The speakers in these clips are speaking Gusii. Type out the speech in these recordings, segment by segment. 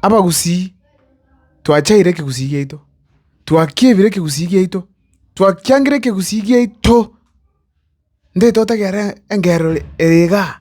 Abagusii, twachaire ekegusii giaito, twakiebire ekegusii giaito, twakiangire ekegusii giaito! Nde totagere engerero ere igaa.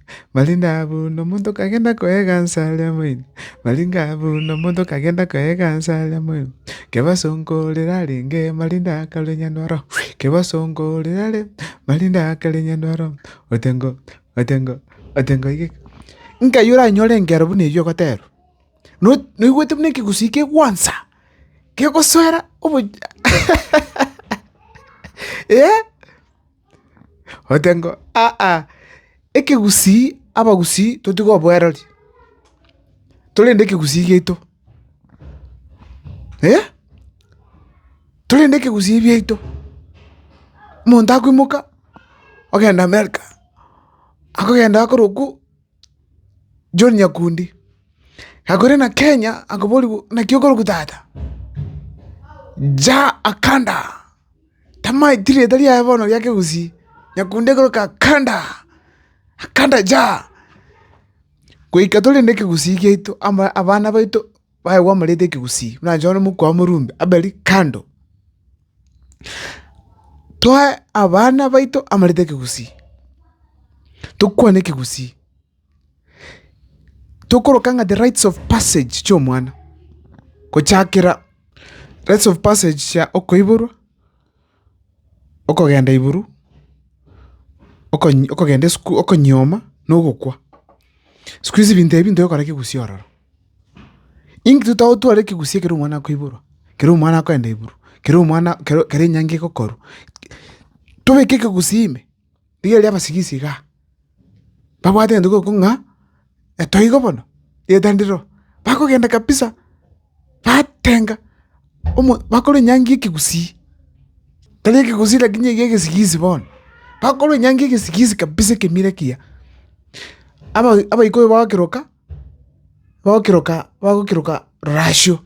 Barenge aa buna omonto okagenda koegansa aria moino, barenge aa buna omonto okagenda koegansa aria moino, Kebaso nko orere arenge marinde akarue nyanwaro, Kebaso nko orere are marinde akare nyanwaro, ote ngo ote ngo ote ngo oigeke. Nkai oranyore engero buna eyio ogoterwa, no noigwete buna ekegusii kegwansa, kegosoera obo eeh. Ogote ng'a, Aa, ekegusii, abagusii totiga oboereria, torende ekegusii giaito, eh, torende ekegusii giaito. Omonto akoimoka, ogenda America, akogenda akorokwa. John Nyakundi, Gakore na Kenya akoborigwe naki okorokwa tata? Ja Akanda, Tamaeti rieta riaye bono ria kegusii, Nyakundi ekoroka Akanda, Akanda ja. Goika torende ekegusii giaito abana baito. Baye gwamoreta ekegusii, buna inche bono omokwa oo morumbe, aberi kando. Toe abana baito amarita ekegusii, tokwane ekegusii, tokoroka ng'a the rights of passage chiomwana, gochakera rights of passage chia okoiborwa. Okogenda iguru, okonyi okogenda isiko okonyioma na ogokwa. Siku hizi binto ebi ntibikora kegusii ororo. Intwe to tware ekegusii ekero omwana akoiborwa, ekero omwana akoenda iguru, ekero omwana kero kero enyangi egokorwa, tobeke ekegusii ime. Rigereria abasigisi igaa, babwate egento gioko ng'a etoigo bono, rieta ndiroo, bakogenda kabisa, batenga omo bakorwa enyangi ya ekegusii, tari ekegusii lakini ekiya egesigisi bono, bakorwa enyangi ya egesigisi kabisa ekemiro ekiya, aba- abaikuyu bagokeroka, bagokeroka bagokeroka rorasio,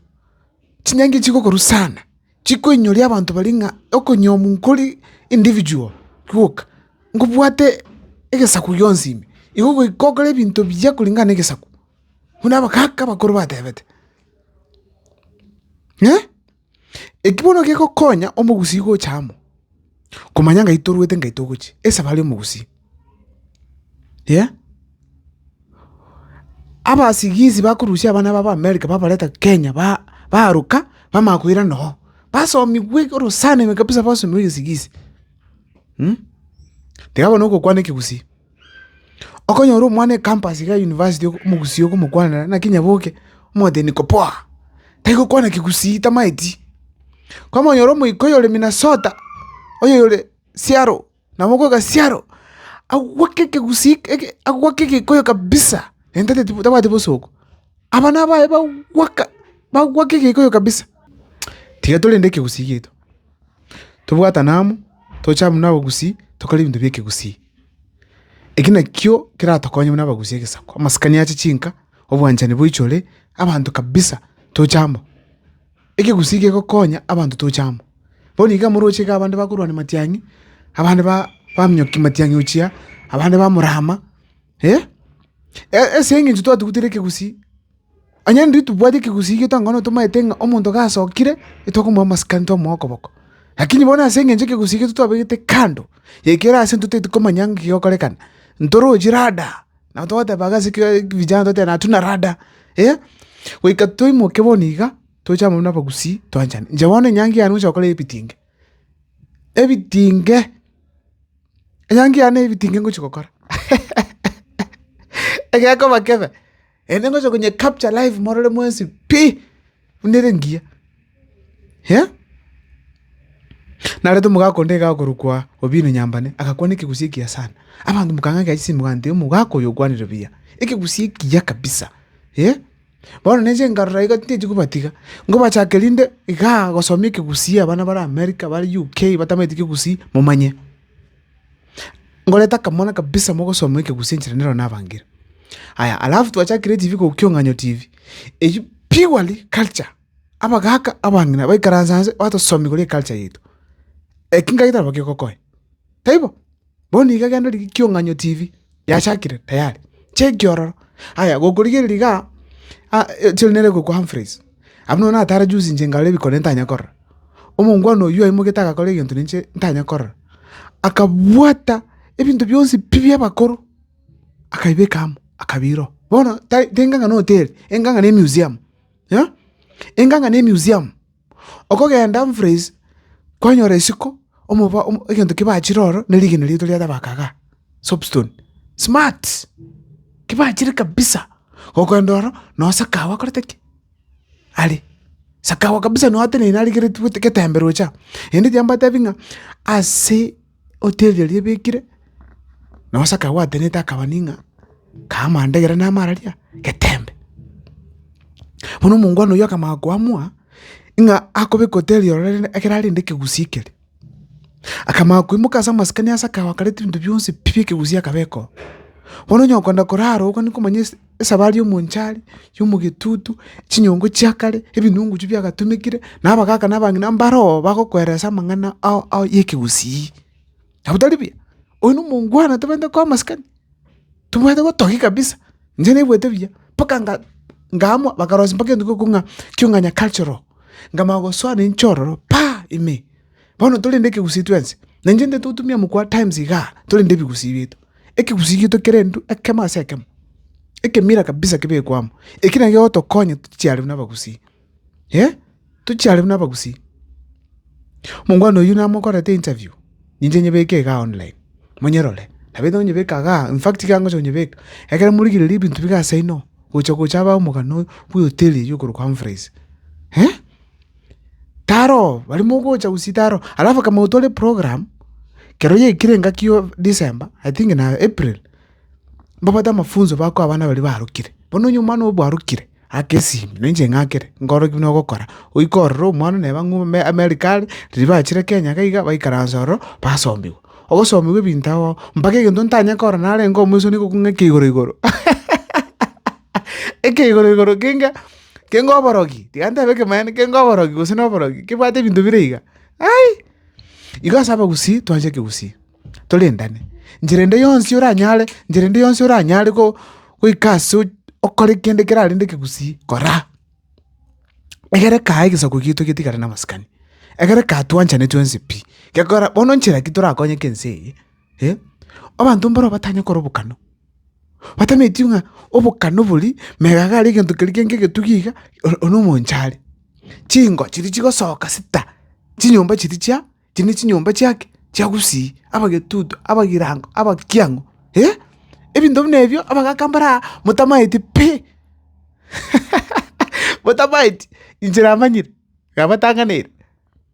chinyangi chigokorwa sana. chikoinyoria abanto baria ng'a okonyiomwa nkori individual gwoka, nkobwate egesaku gionsi ime, igo goika okore ebinto biya koringana na egesaku, buna abagaka abakoro batebete. Eki bono gegokonya omogusii gocha amo. Komanya ngai toruete ngai togochia esaba aria omogusia yeah abasigisi bakorusia abana babo america babareta kenya ba baruka bamanya koirana oo basomigwe eke orosana ime kabisa basomiwa egesigisi tiga bono ogokwana ekegusii. Okonyora omwana ecampus iga ya university omogusii okomokwanera naki nyaboke, omotebia niko poa, tari gokwana kegusii tamaeti. Kwamonyora omoika oyore Minnesota, oyore Seattle, nabo okoika Seattle, agwake ekegusii eke agwake egikoyo kabisa, enta teti tabwati bosoko, abana baye bagwaka bagwaka egikoyo kabisa. Tiga torende ekegusii giaito, tobwatane amo, toche amo na abagusii, tokore ebinto bia ekegusii. Eki nakio keratokonye buna abagusi egesaku, amasikani ache chinka, obwanchani boichore abanto kabisa toche amo. Ekegusi kegokonya abanto toche amo, bono iga moroche iga abande bakorwania matiang'i, abande ba baminyoki matiang'i ochia, abande bamorama, eh? Ase eng'encho twatugutere ekegusi. Onye intwe tibwati ekegusii getong'aine tomaete ng'a omonto gasokire, etokomoa amasikani tomoe okoboko. Lakini bono ase eng'encho ekegusii egetwe twabegete kando, ekio ore ase intwe totaeti komanya ng'a gegokorekana, ntorochi rada, nabo togoteba iga ase vijana togoteba natuna rada, eh. Goika toimoke bono iga, toche amo na abagusii twanchane. Inche bono enyangi yane gochia gokora ebitinge, ebitinge, enyangi yane ebitinge ngochia gokora, egekoba kebe. Naende ngocha konye capture live morore mwensi pi, buna ere engiya. Eeh. Narente omogaka onde iga okorokwa Obino Nyambane, agakwana ekegusii ekiya sana. Abanto mokang'akera chisimu mokantebi omogaka oyo okwanire buya. Ekegusii ekiya kabisa, eeh. Bono na inche nkarora iga tintaeti kobatiga, nkobachake rinde igaa gosomia ekegusii abana bare America, bare UK batamaeti kegusii, momanye. Ngoreta akamwana kabisa mogosoma ekegusi enchera nero nabangire. Aya alafu twachakire etibi korwa Kiong'anyo TV, eyio purely culture, abagaka, abang'ina baikaranse anse batosomia igoro y'eculture yaito. Eki ngagete nabo gegokonya, taibo? Bono nigo egento riria Kiong'anyo TV. Yachakire tayari, chia ekiororo. Aya gokorigereria iga, chiri nere gokwa Humphreys, abwo nabo natare juzi inche nkarora ebikone ntanya korora. Omongwana oyio aimoigete agakora egento ninche ntanya korora, akabwata ebinto bionsi pi bia abakoro, akabibeka amo, akabira oo. Bono tari tenga ng'a na hoteli, enga ng'a na emuseum, enga ng'a na emuseum. Okogenda Humphreys kwanyora isiko, omoba, egento kebachire oro ne rigena riaito ria tabaka igaa, soapstone, smart, kebachire kabisa. Gokoenda oro nonya sakago akorete ki? Are, sakago kabisa nonya ateneine arigeretie gote getembe roche aa. Naende ekiagera mbatebi ng'a ase. Hoteli eria ebekire, nonya gose akagwatanete akaba ning'a, kaaa amanda egere na amararia, getembe. Bono omongwana oyio akamanya koamua, ng'a akobeka hoteli ero rende ekero arende ekegusii keria. Akamanya koimoka ase amasikani ase akagoka akareta ebinto bionsi pi bia ekegusii akabeka oo. Bono onye okogenda korara oo okogenda komanya ase. Esabari y'omonchari, y'omogetutu, chinyongo chia kare, ebinunguchu biagatumekire, na abagaka na abang'ina mbare oo bagokweresa amang'ana ao ao y'ekegusii. Nabo tari buya? Oyo nomongwana atabaete koba masikani, tobaete gotogia kabisa. Inche naigwete buya, mpaka nga ngaamua bakarosia mpaka etuko ekio ng'a ekio ng'a nyakachero, nkamanya gosoa nainche ororo pa ime. Bono torende ekegusii twensi, nainche ntaete gotumia mokwa times igaa torende ebigusii biaito. ekegusii gito kerendu ekemo ase ekemo, ekemira kabisa kebekwe amo. Ekio naki gegotokonya tochiarerwe na abagusii, eh, tochiarerwe na abagusii. Omongwana oyio namokorete interview, ninche nyebeke igaa online, monyerore, nabo erio onyebeke igaa, infact iga ngocha konyebeka, ekero morigereria ebinto biga ase inoo, gocha gocha abae omogano oyo bwehoteli eyio okorokwa Humphreys, eh, Taro barimo gocha gose taro alafu akamanya tore program kero yaikire engaki yo December I think na April, mbabwate amafunzo bakoa abana baria barokire. Bono onye omwana obo arokire ake esimi na inche ng'akere, nkore ki buna ogokora? Oika ororo omwana neba ng'o ime America are, riria bachire Kenya iga iga baikaranse ororo basomiwa. Ogosomiwa ebinto agwo mpaka egento ntanye kora narenge omoisoni igo kung'a eke igoro igoro eke igoro igoro kenge. kenge oborogi, tiga ntebe ekemanyererio, kenge oborogi gose noborogi, kebwate ebinto bire iga, ai. Igo ase abagusii twancha ekegusii, torendane, nchera ende yonsi oranyare, nchera ende yonsi oranyare go- goika ase ochi- okore kende kerarende ekegusii, koraa. Egere kaa egesaku giaito getigare na amasikani, egere kaa twanchane twensi pi, gekora bono nchera ki torakonyeke ense eye. eh, abanto mbaro batanye kora obokano, batametio ng'a obokano bori megaga aria egento keria gento egetugi iga or- one omonche are. Chingo chiria chigosoka sita, chinyomba chiria chia chiria ne chinyomba chia ki? Chia gusii, abagetutu, abagirango, abakiang'u eh, ebinto buna ebio abagaka mbaro aa motamaeti pi, motamaeti inche namanyire, nabatanganeire.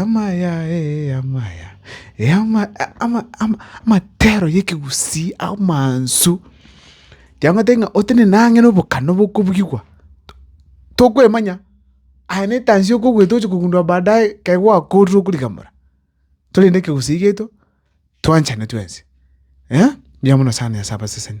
Amaya, amaya, amatero y'ekegusii amansu, kiagotebi ng'a otenene ang'e na obokana bokobugigwa, tokwemanya, aye na etansi okogweta oche kogundua baadaye ekero gwakorire okorigamora, tore na ekegusii giaito, twanchane twensi, mbuya mono sana Nyasae abaseseni.